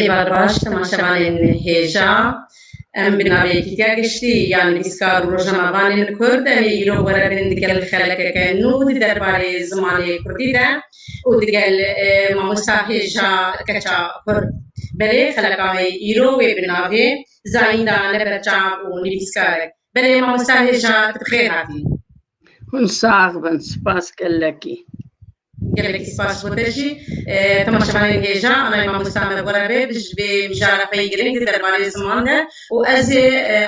Êvar baş temaşevanên hêja em bi navê Kîtya Giştî yan Nivîskar û Rojnamevanên Kurd em ê îro were bin digel xelekeke nû di derbarê zimanê Kurdî de û digel mamosta hêja keça Kurd. Belê xeleka wê îro wê bi navê Zayînda ne berçav û nivîskarek. Belê mamosta hêja tu bi xêr hatî. Hûn sax bin, spas gelekî. Gelekî spas bo te jî. Temaşevanên hêja alay mamosta me bore bê bi ji vê mijara xwe yê girîng di derbarê ziman de û ez ê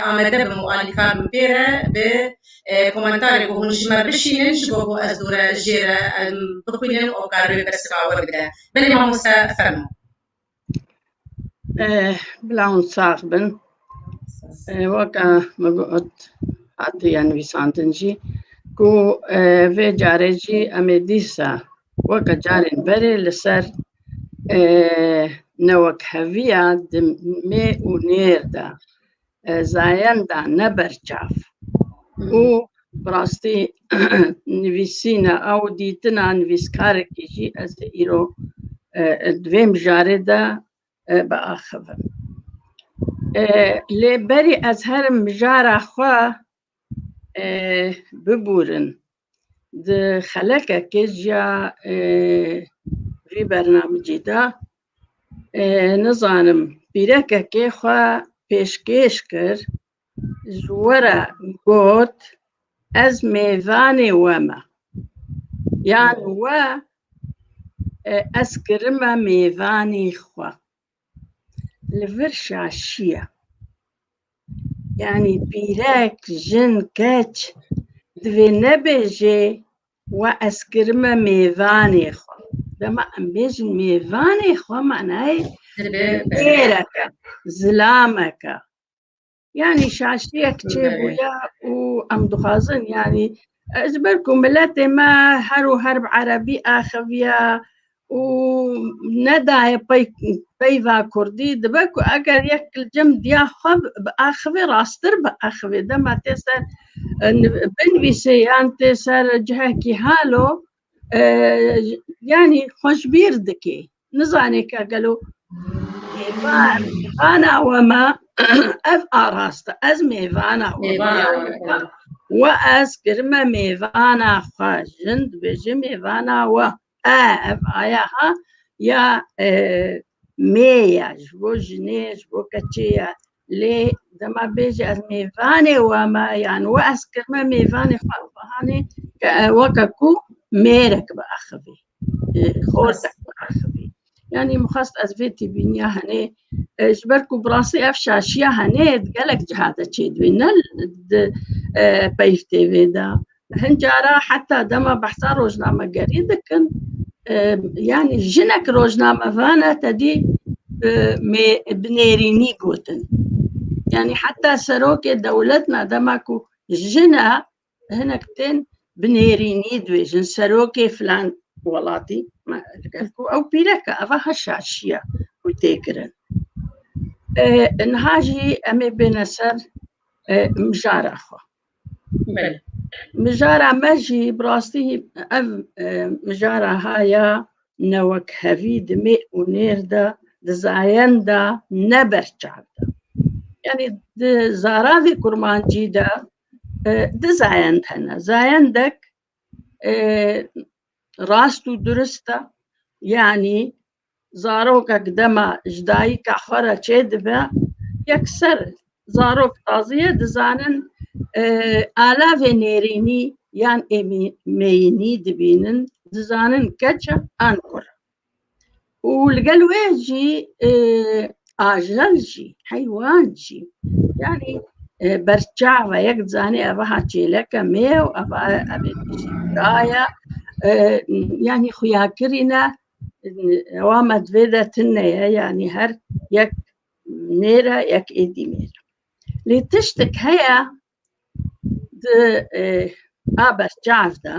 amade bim û alîkar bim pê re bi komentarê ku hûn ji me bişînin ji bo ku ez dû re jê re em bixwînin û ew kar wê pirsika we bide. Belê mamoste fermo. Bila hûn sax bin. Waka min got hatiye nivîsandin jî ku vê carê jî em ê dîsa weka carên berê li ser newekheviya di mê û nêr de zayenda ne berçav û bi rastî nivîsîna ew dîtina nivîskarekî jî ez ê îro di vê mijarê de biaxivim. Lê berî ez herim mijara xwe bibûrin Di xelekekê jiya vî bernamicî de nizanim pîrekekê xwe pêşkêş kir ji we re got ez mêvanê we me yan we ez kirime mêvanî xwe. li vir şaşiya yanî pîrek jin keç divê nebêjê we ez kirime mêvanê xwe dema em bêjin mêvanê xwe manayê bêreke zilameke Yani şaşiyek çêbûye û em dixwazin yani ji ber ku miletê me her û her bi erebî axiviye û nedaye pey peyva kurdî dibe ku eger yek cem diya xwe bi axivê rastir bi axivê dema tê ser binivîsê yan tê ser cihekî halo yani xweşbîr dikê nizanê ke gelo vana we me ev arast e ez mêvana we ez kirime mêvana xwe jin dibêje mêvana we e ev aya ha ya Mêya ji bo jinê ji bo keçê ye lê dema bêje ez mêvanê we me yan we ez kirme mêvanê xwe ew bihanê ke weke ku mêrek biaxivî xortek biaxivî yanî min xwest ez vê tîbîniya henê ji ber ku bi rastî ev şaşiya henê di gelek ciha de çêdibê ne di peyv têvê de Hin cara heta dema behsa rojnamegerî dikin yanî jinek rojnamevane te dî bi nêrînî gotin. Yanî heta serokê dewlet na dema ku jina hinek tên bi nêrînî dibêjin serokê filan welatî ku ew pîreke eva ha şaşiya ku tê kirin. Niha jî em ê bêne ser mijara xwe. Mijara me jî bi rastî ev mijara haya ne wek hevî dimê û nêr de di zayen de ne berçav de. Yanî di zaravê kurmancî de di zayend hene. Zayendek rast û durist e yanî zarokek dema ji dayika xwe re çêdibe yekser zarok taziye dizanin alavê nêrînî yan êmî meyînî dibînin dizanin keç e an kur e. û li gel wê jî e, ajel jî heywan jî yanî e, berçava yek zanê ev ha çêleke mê û ev ev daya e, yanî xuya kirîne ewa me divê de tine ye yanî her yek nêre yek êdî nêre lê tiştek heye Di e, aber çav de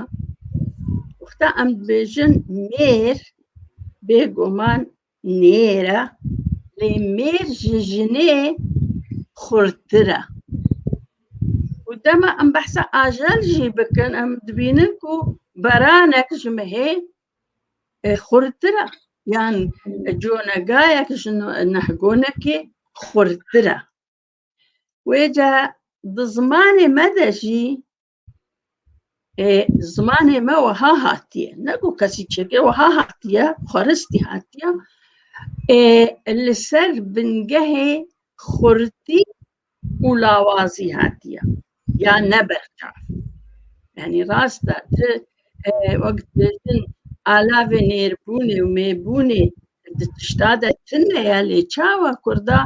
wexta em dibêjin mêr bêguman nêr e lê mêr ji jinê xurttir e. Û dema em behsa ajel jî bikin em dibînin ku beranek ji mehê e, xurttir e yan conegayek ji nehgonekê xurttir e. Wêca di zimanê me de jî ê zimanê me wiha hatiye. Ne ku kesî çêkê wiha hatiye, xweristî hatiye. Ê li ser bingehê xurtî û lawazî hatiye. ya ne berçav. Yani rasta ti wek dibêjin alavê nêrbûnê û mêbûnê di tişta de tune ye lê çawa Kurda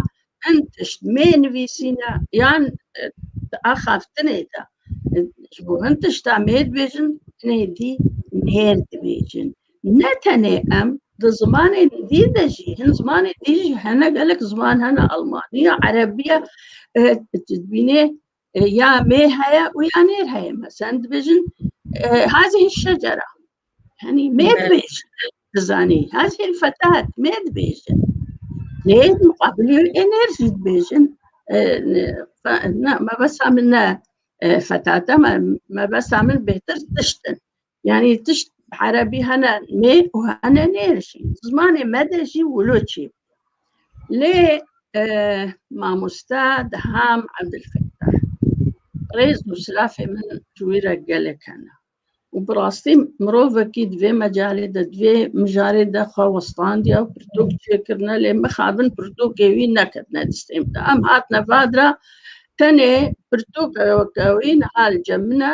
hin tişt mênivîsîne yan di axaftinê de ji bo hin tişta mêr dibêjin hinê dî nêr dibêjin. Ne tenê em di zimanên dî de jî hin zimanê dî jî hene gelek ziman hene Almaniya, Erebiya dibînê ya mê heye û ya nêr heye mesen dibêjin hazê şecera henî mê dibêjin dizanî hazê fetat mê dibêjin lê muqabiliyo ê nêr jî dibêjin me besa min ne fetata me besa min bêtir tiştin Yani tişt Erebî hene nê û hene nê jî. Zimanê me de jî Wûloçî. Lê e, mamoste Deham Ebdulfettah. Rêz û silafê min ji wî re gelek hene. û bi rastî mirovekî di vê mecalê de di vê mijarê de xwe westandiya û pirtûk çêkirine lê mixabin pirtûkê wî neketine distê min de. Em hatine vadira tenê pirtûkeke wî niha li cem min e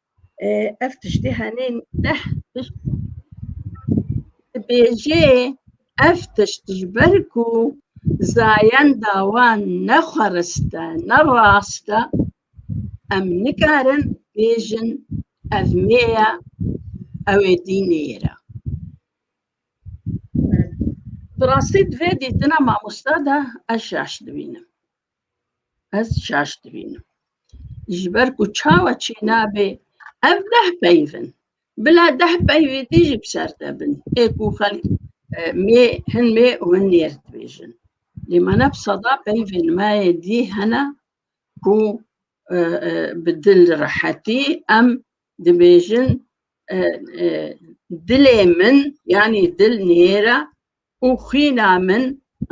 Ev tiştê henê neh tişt dibêjê ev tişt ji ber ku zayenda wan ne xwerist e, ne rast e, em nikarin bêjin ev mê ye, ew ê dînê ye re. Bi rastî di vê dîtina mamosta de ez şaş dibînim. Ez şaş dibînim. Ji ber ku çawa çê nabê ev deh peyv in. Bila deh peyvê dî jî bi ser te bin. Ê ku xelk e, mê hin mê û hin nêr dibêjin. Lê me ne bi seda peyvên me yê dî hene ku e, e, bi dil rehetî em dibêjin e, e, dilê min yanî dil nêr e û xwîna min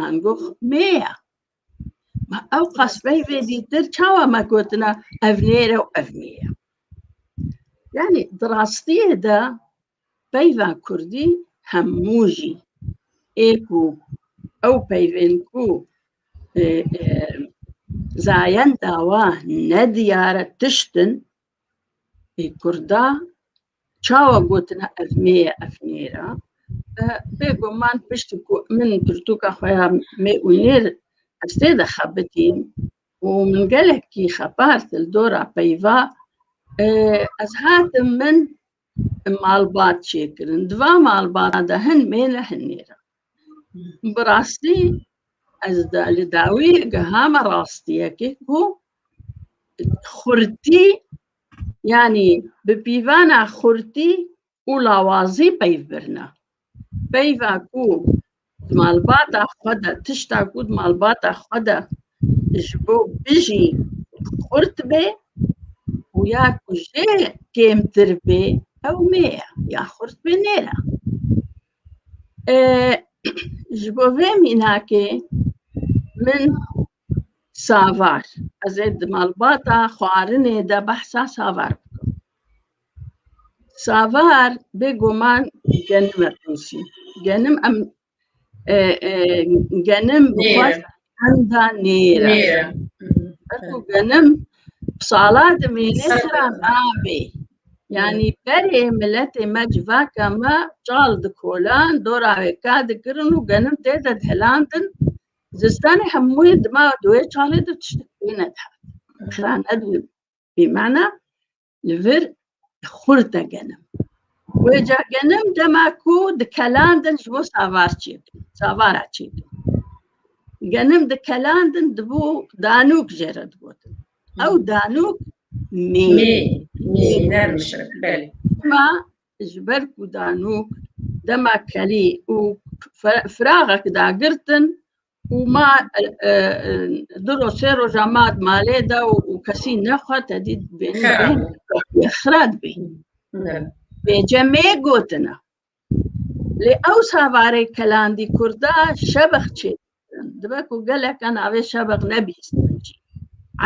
angox mê ye. Ma ew qasbeyê vê dîtir çawa me gotina ev nêre û ev nîye. Yani di rastiyê de peyva Kurdî hemû jî ê ku ew peyvên ku zayen dawa nediyare tiştin Ê Kurda çawa gotine ev mê ye ev nêr e? Bêguman piştî ku min pirtûka xwe ya mê û nêr ez tê de xebitîm û min gelekî xebart li dora peyva ez hatim min malbat çêkirin di va malbata de hin mêle hin nêra bi rastî ez de li dawî gihama rastiyekê ku xurtî yanî bi pîvana xurtî û lawazî peyv birina Peyva ku di malbata xwe de tişta ku di malbata xwe de ji bo bijî xurt bê û ya ku jê kêmtir bê ew mê ye ya xurt bê nêre. Ji bo vê mînakê min Savar. Ez ê di malbata xwarinê de behsa Savar bikim. Savar bêguman genim e qûnsî. Genim em e, e, genim bi Nêr. xwest henda nêr e. Nêre. Eku genim sala dimêne Sala. sira nabê. Yani berê miletê me civaka me çal dikolan, dora wê ka dikirin û genim tê de dhelandin Zistanê hemû yê dima duê çalê de tiştek pê nedihat. Xira nedibî bîmana li vir xurt de genim. Wê ca genim dema ku dikelandin ji bo savar çêbin, savara çêbin. Genim dikelandin dibû danûk jê re digotin. Ew danûk mê. Mê, mê, nermişin, belê. Dima ji ber ku danûk dema kelî û firaxek dagirtin û ma du roj sê roja ma malê de û kesî nexwe te dî xira dibî bêcemê gotina lê ew savarê kelandî kurda şebex çê Dibe ku geleke navê şebeq nebihîstin jî.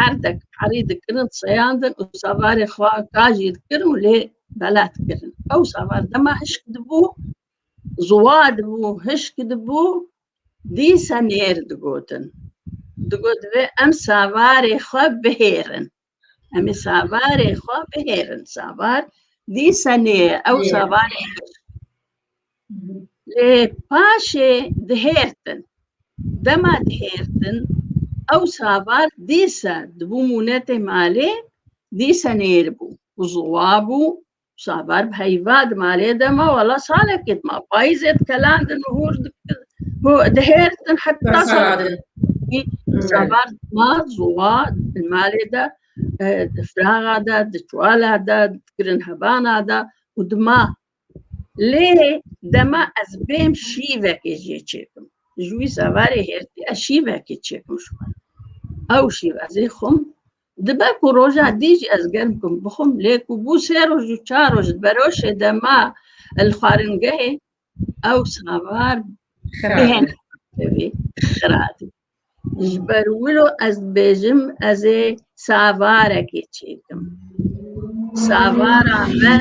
Erdek erî dikirin, seyandin û savarê xwe ka jî dikirin û lê bela dikirin. Ew savar dema hişk dibû, ziwa dibû, hişk dibû, dîse nêr digotin. Digot vê em savarê xwe bihêrin. Em ê savarê xwe bihêrin. Savar dî senê ye. Ew savarê lê paşê dihêrtin. Dema dihêrtin ew savar dîsa dibû mûnetê malê dîsa nêribû û ziwa bû Sabar bi heyva di malê de ma wala salekê dima payîzê dikelandin û hûr dihêrtin heta salekê sabar ma zowa di malê de di firaxa de di çuwala de dikirin hebana de û dima lê dema ez bêm şîvekê jê çêkim ji wî sabarê hêrtî ez şîvekê çêkim ew şîv ez ê xum Dibe ku roja dî jî ez germ bûm bixwim lê ku bû sê roj û çar roj di beroşê de ma li xwaringehê ew savar bihên tevî xira dibî. Ji ber wilo ez dibêjim ez ê savarekê çêkim. Savara me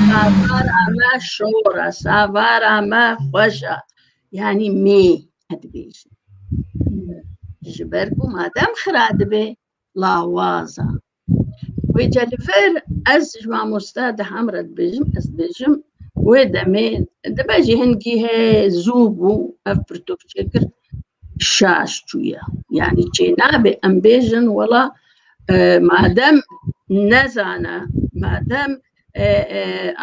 savara me şor e, savara me xweş e. Yanî mê dibêjin. Ji ber ku madem xira dibe lawaza. Wê ca li vir ez ji mamosta di hem re dibêjim ez dibêjim wê demê dibe jî hingî he zû bû ev pirtok çêkir şaş çûye. Yanî çê nabê em bêjin wela madem nezana madem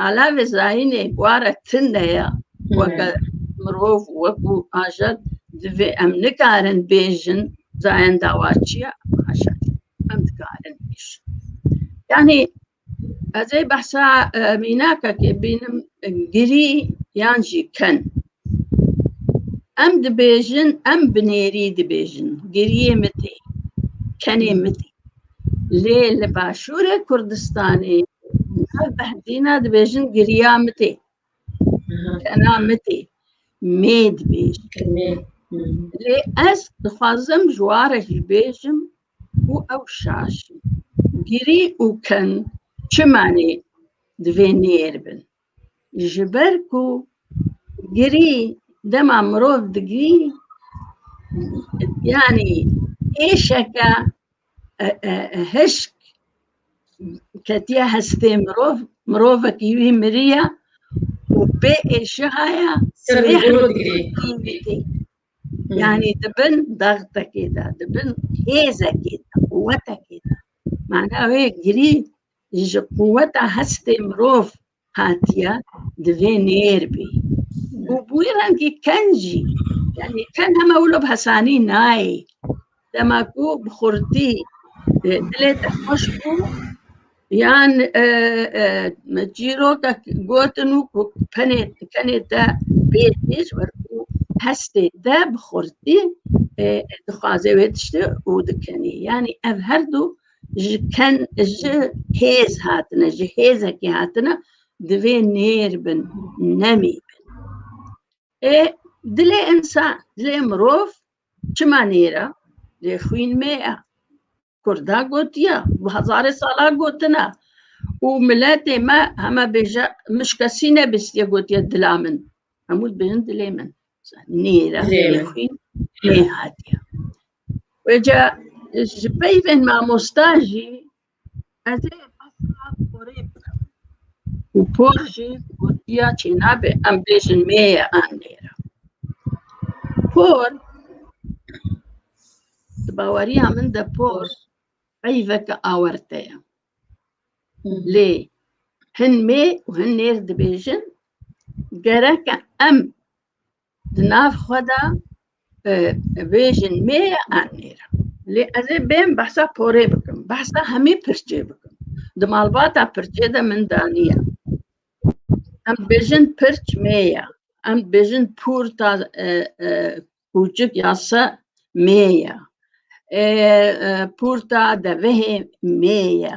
alevê zayînê ware tin de ye weke mirov wekû ajet divê em nikarin bêjin zayen dawa çi ye ajet em dikarin bêjin yanî ez ê behsa mînakekê bînim girî yan jî ken em dibêjin em binêrî dibêjin giriyê min tê kenê min tê Lê li Başûrê Kurdistanê nav behdîna dibêjin giriya mitê. Kena mitê. Mê dibêjin. Lê ez dixwazim ji ware jî bêjim û ew şaşin. Girî û ken çi manê divê nêr bin. ji ber ku girî dema mirov digirî yanî êşeke hişk ketiye hestê mirov mirovekî wî miriye û bê êşihaya yanî dibin dextekê de dibin hêzekê de quwetekê de mana wê girî ji quweta hestê mirov hatiye divê nêr bî û bûyî rengî ken jî yanî ken heme wilo bi hesanî nayê dema ku bi xurtî e, dilê te xweş bû yan e, e, çîroka gotin û ku penê kenê te bê têj wer û hestê te bi xurtî e, dixwaze wê tiştê û dikenî yanî ev her du ji ken ji hêz hatine ji hêzekê hatine divê nêr bin nemî bin ê dilê insan dilê mirov çima nêra lê xwîn mê ya kurda gotiya bi hezarê sala gotina û miletê me heme bêje min ji kesî nebistiye gotiye dila min hemû bêjin dilê min nêra lê xwîn nê hatiye Wêca ji peyvên mamosta jî ez ê asla porê bikim û por jî gotiya çênabe em bêjin mêye an nêra. Por di baweriya min de por peyveke awerte ye. Lê hin mê û hin nêr dibêjin gereke em Di nav xwe de bêjin mê ye an nê re. Lê ez ê bên behsa porê bikim, behsa hemî pirçê bikim. Di malbata pirçê de min daniye. Em dibêjin pirç mê ye. Em dibêjin pûr ta kûçik ya se mê ye. Pûr ta devehê mê ye.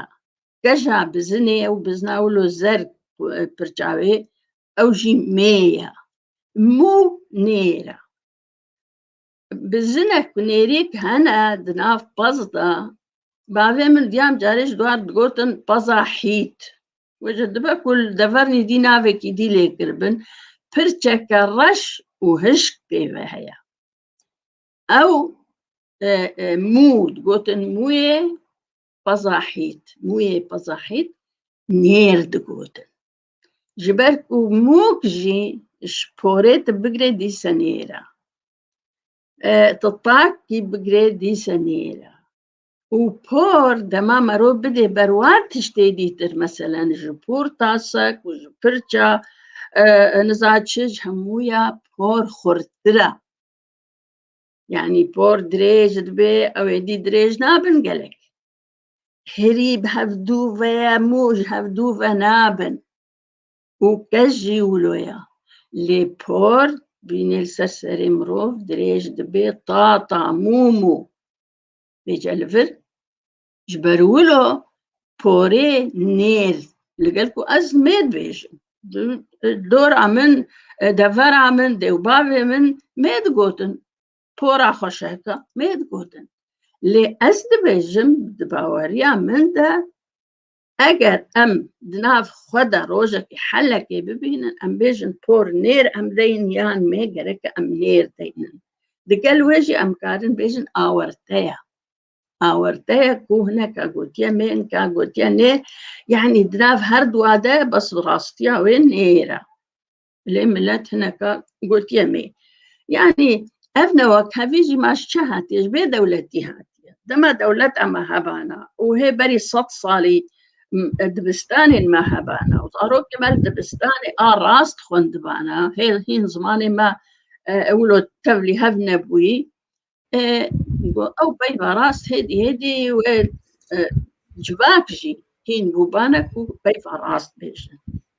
Geja bizinê û bizna wilo zer pirça wê ew jî mêya mû nêra bi jinek û nêrîk hene di nav pez de bavê min diyam carê ji dwar digotin peza hît we ji dibe ku li devernî dî navekî dî lê kiribin pirçeke reş û hişk pêve heye ew e, e, mû digotin mûyê peza hît mûyê peza hît nêr digotin Ji ber ku mûk jî ji porê tu bigirê dîse nêra. Tu takî bigirê dîse nêra. û por dema merov bidê berwa tiştê dîtir meselen ji por tasek û ji pirça niza çi ji hemû ya por xurtir e. Yani por dirêj dibe ew ê dî dirêj nabin gelek. herî bi hevdû ve ye mû ji hevdû ve nabin û kes jî wilo ye lê por bînê li ser serê mirov dirêj dibê ta ta mû mû bê celivir ji ber wilo porê nêr li gel ku ez mêr bêjim dora min devera min dêw bavê min mêr digotin tora xweşeke mê digotin lê ez dibêjim di baweriya min de eger em di nav xwe de rojekê helekê bibînin em bêjin por nêr em deyin yan mê gereke em nêr deynin di gel wê jî em karin bêjin awerteya awerteya ku hineka gotiye mê hinka gotiye nêr yanî di nav her dua de bes bi rastiya wê nêr e lê millet hineka gotiye me yanî ev newa kevî jî maş çi hatiye ji bê dewletî hatiye dema dewlet em hebana û hê berî sed salî dibistanên me hebana û zarokê me dibistanê a rast xwendibana hê hîn zimanê me ewlo tevlî hev nebûyî ew peyva rast hêdî hêdî wê civak jî hîn bûbane ku peyva rast bêjin.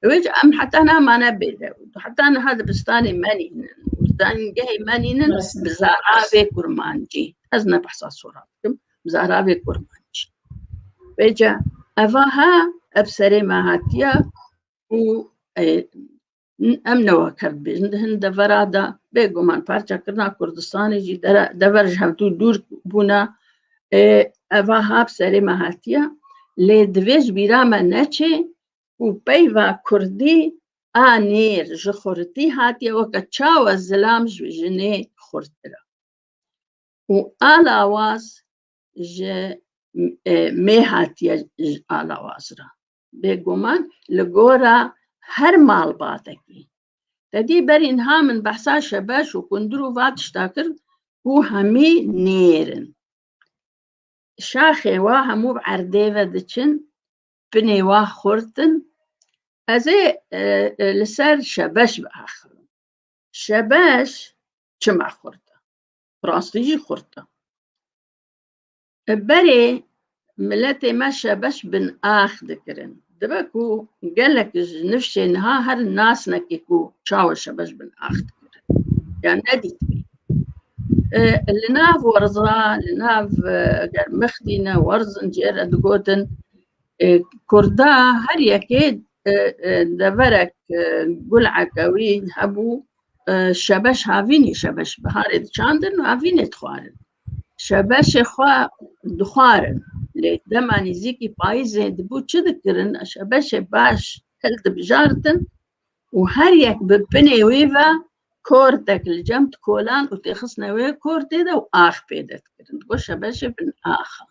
Wê em heta namane bêde heta niha dibistanê menînin dengehê menînin bi zaravê kurmancî ez ne behsa sora bikim bi zaravê kurmancî. Wêca evaha ev serê me hatiya û Em newa kerd bêjin di hin devera de bêguman parçekirina Kurdistanê jî dever ji hevdû dûr bûna eva hap serê me hatiye lê divê ji bîra me neçê û peyva Kurdî a nêr ji xurtî hatiye weke çawa zilam ji jinê xurtir e û a lawaz ji mêh hatiye alawaz re Bêguman li gora her malbatekî. Tedî ber înha min behsa şebeş û kundir û va tişta kir ku hemî nêr in. Şaxê wa hemû bi erdê ve diçin, pinê wa xurt in. Ez ê e, e, li ser şebeş biaxirim. Şebeş çima xurt e? Rastî jî xurt e. Berê miletê me şebeş bin ax dikirin. Dibe ku gelek ji nifşê niha her nasnekî ku çawa şebeş bin ax dikirin. Ya nedîtibî. Li nav werza, li nav eger mixdîne werzin cê re digotin Kurda her yekê deverek guleke wî hebû şebeş havînî şebeş biharê diçandin û havînê dixwarin. Şebeşê xwe dixwarin. Lê dema nîzîkî payîzê dibû çi dikirin? Şebeşê baş hil dibijartin û her yek bi pinê wî ve kortek li cem dikolan û têxistine wê kortê de û ax pê de dikirin. Got şebeşê bin axa.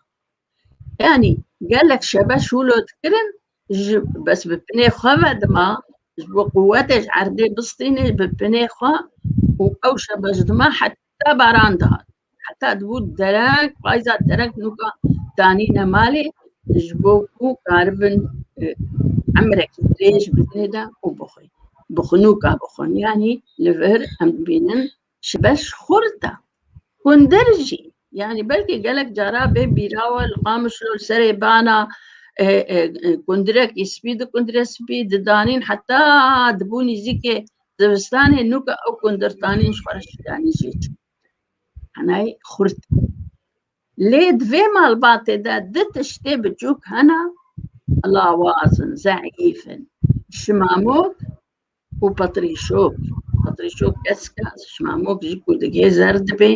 Yanî gelek şebeş hûlo dikirin ji bes bi pinê xwe ve dima ji bo quwetê ji erdê bistînê bi pinê xwe û ew şebeş dima Te baran dihat. Heta dibû derek, payza derek nûka danîne malê ji bo ku karibin e, emrekî dirêj bidinê de û bixwe. Bixunûka bixwin yanî li vir em dibînin ji beş xurta. Hundir jî yanî belkî gelek cara bê bîrawa li qamişlo li serê bana e, e, e, kundirekî spî di kundire spî didanîn heta dibû nîzîkê Zivistanê nû ke ew gundirtanên ji xwereşîyanî jê çû henayî xurt. Lê di vê malbatê de di tiştê biçûk hena lawaz in, zeîf in. Şimamok û patrîşok. Patrîşok keska, şimamok ji ku digê zer dibê.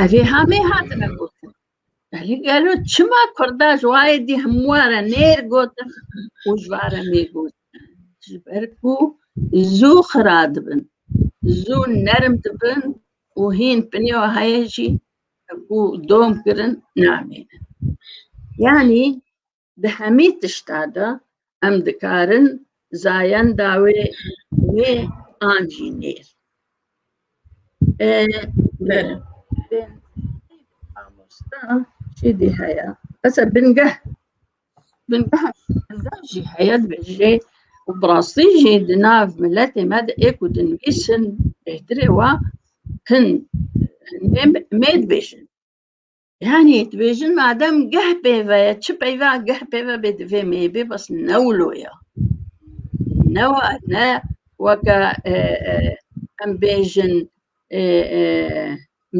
Evê hamê hatine gotin. Belê gelo çima kurda ji wayê dî hemû re nêr gotin û ji va re nêr gotin ji ber ku zû xira dibin zû nerm dibin û hîn pinê heye jî ku dom kirin namênin yanî Di hemî tişta de em dikarin zayenda wê wê an jî nêr. Mamosta şêdî heye. Esa bingeh bingeh bingeh jî heye dibêje û bi rastî jî di nav miletê me de ê ku dinivîsin bêhtirê wa hin mêd bêjin. Yani dibêjin madem geh pêve ye çi peyva geh pêve bê divê mêbê bas ne wilo ya. Ne wa ne weke e, e, em bêjin e, e,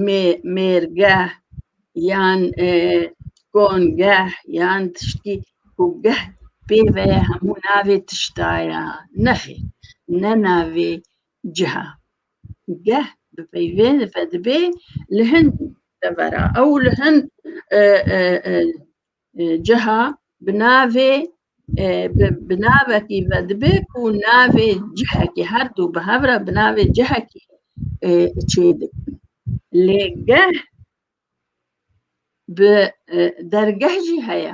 mê mêrgeh yan e, kongeh yan tiştî ku geh pêve ye hemû navê tişta ya. Nexê ne navê ciha. Geh bi peyvên vedibê li hin devera ew li hin ciha bi navê bi navekî vedibê ku navê cihekî her du bi hev re bi navê cihekî çê dikin. Lê geh bi dergeh jî heye.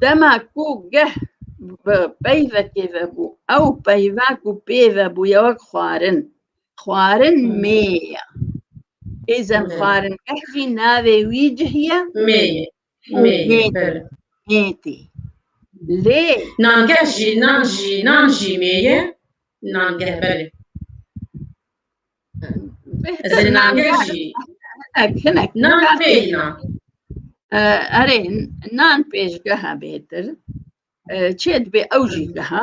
Dema ku geh bi peyvekê ve bû, ew peyva ku pê ve bû ye wek xwarin. Xwarin mê ye. Êzen xwarin geh jî navê wî cih ye mê ye. Mê ye. Mê tê. Lê nangeh jî nan jî nan jî mê ye. Nangeh belê. Erê nan pêşgeha bêtir çê dibê ew jî geha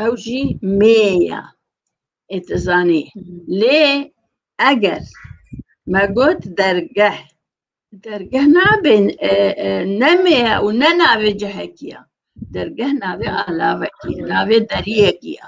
ew jî mêya ê tu zanî lê eger me got dergeh dergeh nabê ne mêya û ne navê cihekî ya dergeh navê alavekî navê deriyekî ya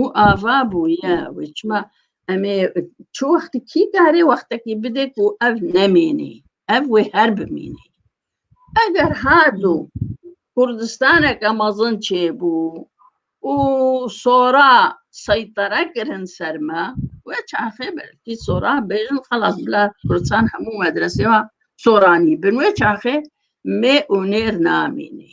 û ava bû ye wê çima em ê çi wextî kî karê wextekî bidê ku ev nemînî ev wê her bimînî eger hardû kurdistaneke mezin çêbû û sora seytere kirin ser me wê çaxê belkî sora bêjin xelas bila kurdistan hemû medresê wa soranî bin wê çaxê mê û nêr namînî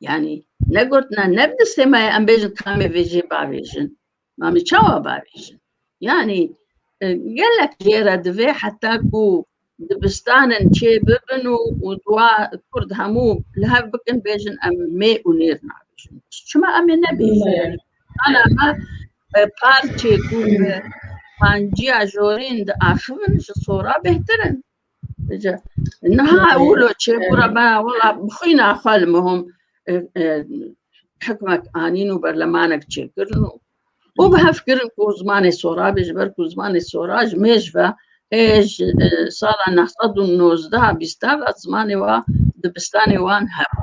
Yani ne gotina ne bi semaya em bêjin tamê vêjê bavêjin. Mamê çawa bavêjin. Yani e, gelek jêra divê heta ku dibistanin çê bibin û û dua kurd hemû li hev bikin bêjin em mê û nêr nabêjin. Çima em ê nebêjin yani. Ana me e, parçê ku bi panciya jorên di axivin ji sora bêhtirin. Niha wilo çê bura me wila bixwîna xwe li mihom hikmek anîn û berlemanek çêkirin û û bi hev kirin ku zimanê sorabê ji ber ku zimanê sora ji mêj ve ê ji sala neh sed û nozdeh bîsta ve zimanê wa dibistanê wan hebû.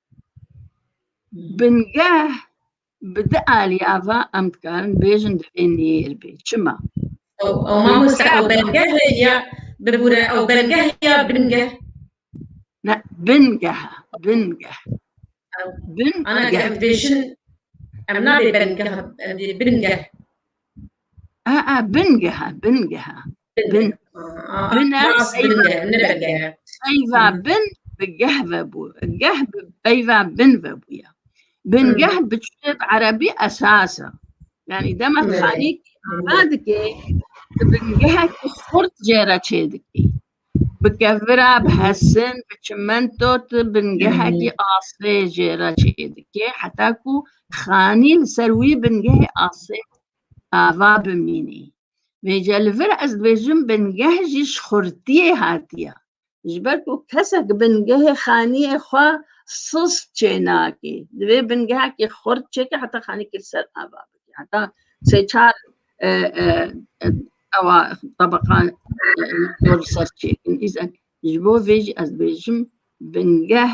Bingeh bi di aliya va em dikarin bêjin divê nêr bê. Çima? Ew mamoste ew bingeh ya bibûre ew bingeh ya bingeh. Ne bingeh bingeh. Bin ana geh bêjin em nabê bingeh bingeh. A a bingeh bingeh. bin bin peyva bin bi geh ve bû geh bi peyva bin ve bûye bin geh bi çutêb erebî esas e yanî dema xanî ana dikê di bin gehek xurt cê re çê dikî bi kevira bi hesin bi çimento tu bin gehekî asê jê re çê dikê heta ku xanî li ser wî bin gehê asê ava bimînî Vê ca li vir ez dibêjim bingeh jî ji xurtiyê hatiye. Ji ber ku kesek bingehê xaniyê xwe sist çê nake. Divê bingehekî xurt çêke heta xanî kir ser ava bike. Heta sê çar ewa tebeqan ser çêkin. Îzek ji bo vê jî ez dibêjim bingeh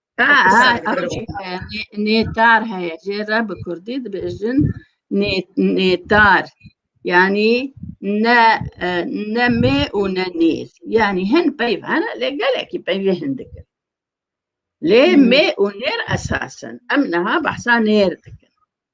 Nêtar heye jê re bi kurdî dibêjin nêtar yanî ne ne mê û ne nêr yanî hin peyv hene lê gelekî peyvê hin dikin lê mê û nêr esasin em niha behsa nêr dikin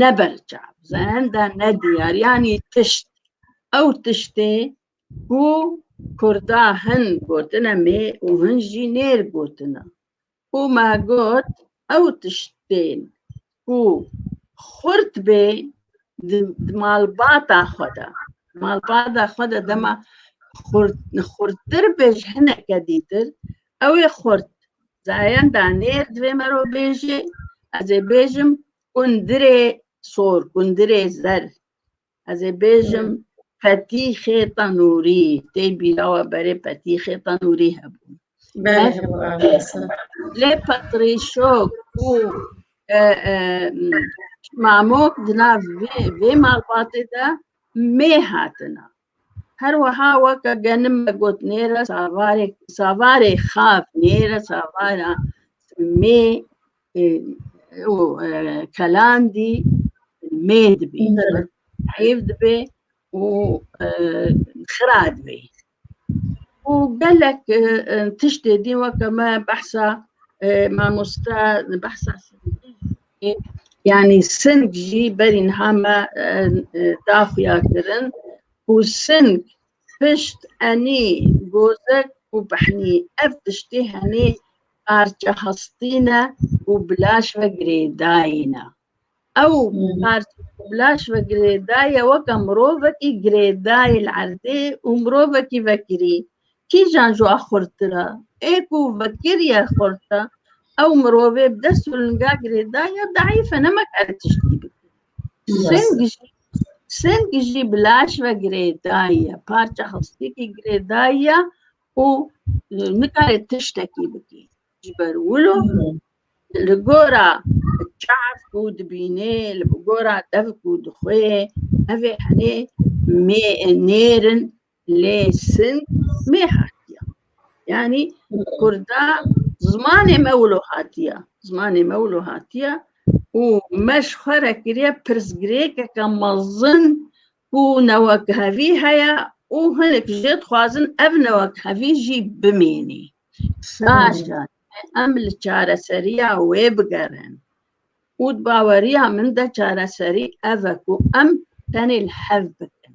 ne berçav zehenda ne diyar yanî tişt ew tiştê ku Kurda hin gotine mê û hin jî nêr gotine û me got ew tiştên ku xurt bê di malbata xwe de malbata xwe de dema xurttir bê ji hineke dîtir ew ê xurt zehenda nêr divê me ro bêjê ez ê bêjim Kundirê sor, kundirê zer. Ez ê bêjim petîxê tenûrî. Tê bîra we berê petîxê tenûrî hebû. Lê petrîşok û e, e, mamok di nav vê vê malbatê de mê hatine. Her weha weke genim me got nêre savarê savarê xaf nêre savara mê kelandî mê dibî heyv dibê û xira dibê û gelek tiştê dî weke me behsa mamosta behsa Yanî sing jî berî niha me da xuya kirin ku sing pişt enî gozek û behnî ev tiştî henî parça hestî ne û bilaş ve girêdayî ne. Ew parça bilaş ve girêdaye weke mirovekî girêdayî li erdê û mirovekî vekirî Kîjan ji wan xurttir e? Ê ku vekiriye xurt e, ew mirovê bi dest û linga girêda ya deîf e nemekare tiştî bike. Sing jî sing jî bi laş ve girêdaye, parça hestîkî girêdaye û nikare tiştekî bikî. Ji ber wilo li gora çav ku dibînê, li gora dev ku dixwê, ev ê henê mê nêrin Lê sin mê hatiya. Yani Kurda zmanê me wilo hatiya. Zmanê me wilo hatiya û me ji xwe re kiriye pirsgirêkeke mezin ku newekhevî heye û hinek jê dixwazin ev newekhevî jî bimînî. Saja em li çareseriya wê bigerin. Û di baweriya min de çareserî ev e ku em tenê li hev bikin.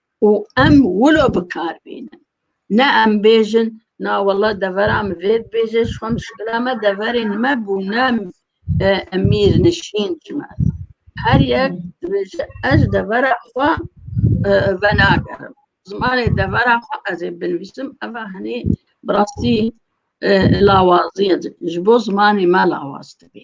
û em wilo bikar bînin. Ne em bêjin na wela devera min vê dibêje ji xwe muşkila me deverên me bû ne mîrnişîn ji me. Her yek dibêje ez devera xwe venagerim. Zimanê devera xwe ez ê binivîsim eva hinî bi rastî lawazî ye ji bo zimanê me lawaz dibî.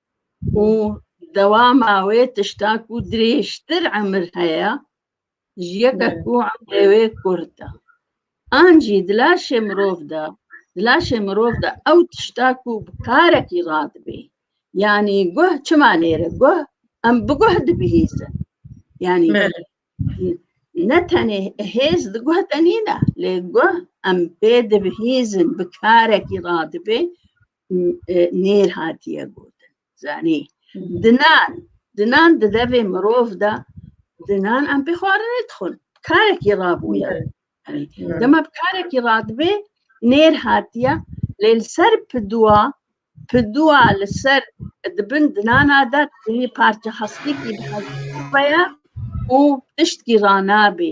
û dewama wê tişta ku dirêjtir emir heye ji yeke ku emrê wê kurt e. An jî di laşê mirov de di laşê mirov de ew tişta ku bi karekî radibê. Yanî guh çima nêre guh em bi guh dibihîzin. Yanî ne tenê hêz di guh de nîne lê guh em pê dibihîzin bi karekî radibê nêr hatiye gotin zanî dinan dinan di devê mirov de dinan em pê xwarinê dixwin karekî rabûye dema bi karekî radibê nêr hatiye lê li ser piduwa piduwa li ser di bin dinana de tenê parça hestikî bi hestikî beye û tiştkî ranabê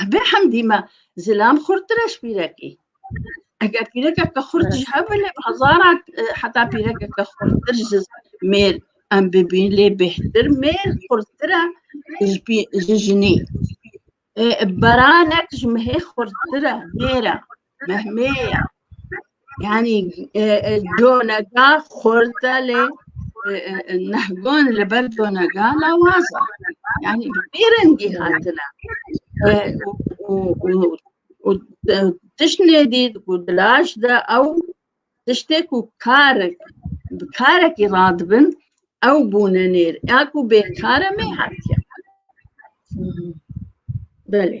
Hebê hemdî me zilam xurttir e ji pîrekî. Eger pîrekeke xurt ji hev lê bi hezaran e, heta pîrekeke xurttir ji mêr em bibîn lê bêhtir mêr xurttir e ji pî- ji jinî. E, Beranek ji mehê xurttir e mêr e. Mehmeya. Yani e, e, conega xorta lê e, e, nehgon li ber conega lawaza. Yani bê rengî hatine. E, û- û- û- û tiştê dî ku dilaj de ew tiştê ku karek bi karekî radibin ew bûne nêr. Ya ku bêkare mê hatiye. Belê.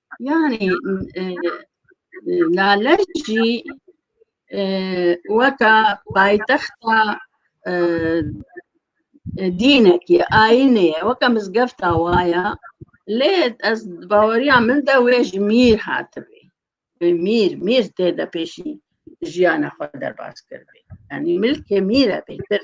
Yani e, e, Lale jî e, weka paytexta e, e, dînekî ayînê ye weka mizgefta waya lê ez di baweriya min de wê ji mîr hatibê Wê mîr mîr tê de pêşî jiyana xwe derbas kirbê yanî milkê mîr e bêtir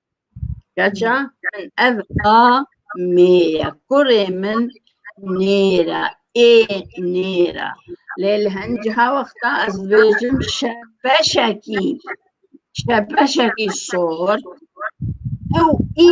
Kaça min ev a mêye kurê min nêra ê nêra lê li henciha wexta ez bêjim şebeşekî şebeşekî sor ew î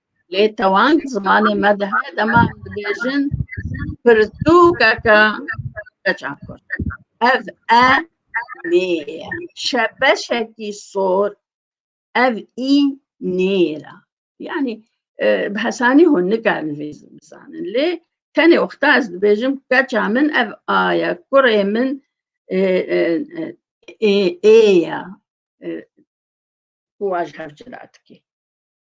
lê tawan zimanê me de heye dema em dibêjin pirtûkeke keça kurd ev e nê ye şebeşekî sor ev î nêra yanî e, bi hesanî hûn nikarin vê bizanin lê tenê wexta ez dibêjim keça min ev aye kurê min e, e, ê ye kuaj hevcira dikê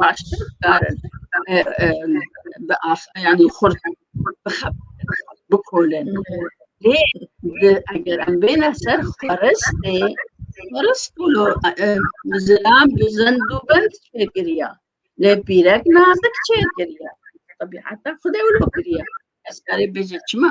baştir karin bi asayanî xurt bikolin lê eger em bêne ser xweristê xwerist û zilam bi zind û bind çêkiriya lê pîrek nazik çêkiriya tebîeta xudê wilo kiriya ez karê bêje çima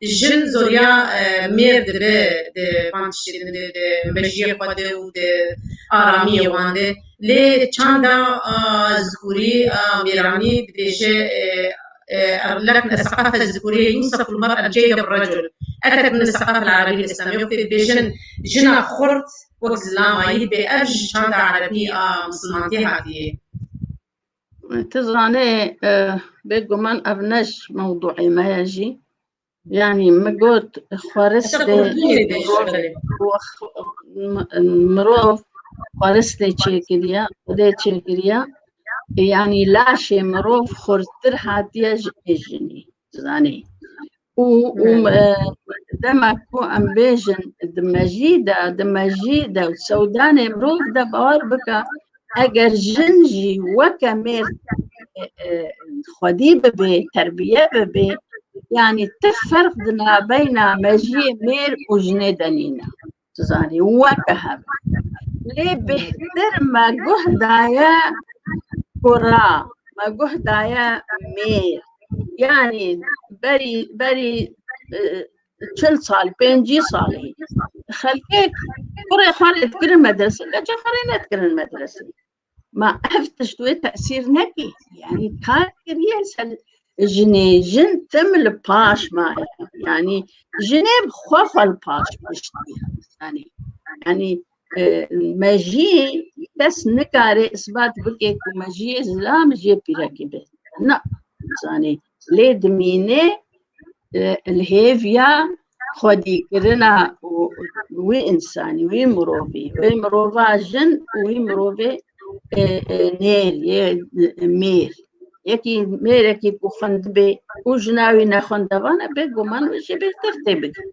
Jin zoriya mêr dibe di van tiştê din de, di mejiyê xwe de û di aramiyê wan de. Lê çanda Zikurî a Mêranî dibêje, Lek nesaqafe Zikurî yûsef ûl mer el ceyde bi recul, etet min nesaqafe el Erebî listemi. Wextê dibêjin jina xurt wek zilama yî dibe, ev ji çanda Erebî a misilmantiyê hatiyê. Tu zanê bêguman ev ne ji mewduê me ye jî. Yanî min got xweristê mirov xweristê çêkiriye, xwedê çêkiriye. Yanî laşê mirov xurttir hatiye ji jinî. Zanî. Û û dema ku em bêjin di mejî de di mejî de sewdanê mirov de bawer bika eger jin jî weke mêr xwedî bibê terbiye bibê yanî ti ferq di nabeyna mejiyê mêr û jinê de nîne. Tu zanî weke hev. Lê bêhtir me guh daye kura, me guh daye mêr. Yani berî berî e, çil sal, pêncî salî. Xelkek kurê xwe lê dikirin medresê, keçê xwe lê nedikirin medresê. Ma ev tişt wê tesîr nekî. Yani kar kiriye ser jinê jin tim li paş maye. Yani jinê bi xwe xwe li paş piştiye. Yani yani e, me jî kes nikare isbat bike ku me jiyê zilam jiyê pîrekî be. Na zanê lê dimîne li hêviya xwedîkirina wî însanî, wî mirovî, wê mirova jin û wî mirovê nêr yê mêr. Yekî mêrekî ku xwendibê û jina wî nexwendevan e bêguman wê jî bêhtir tê bigihîne.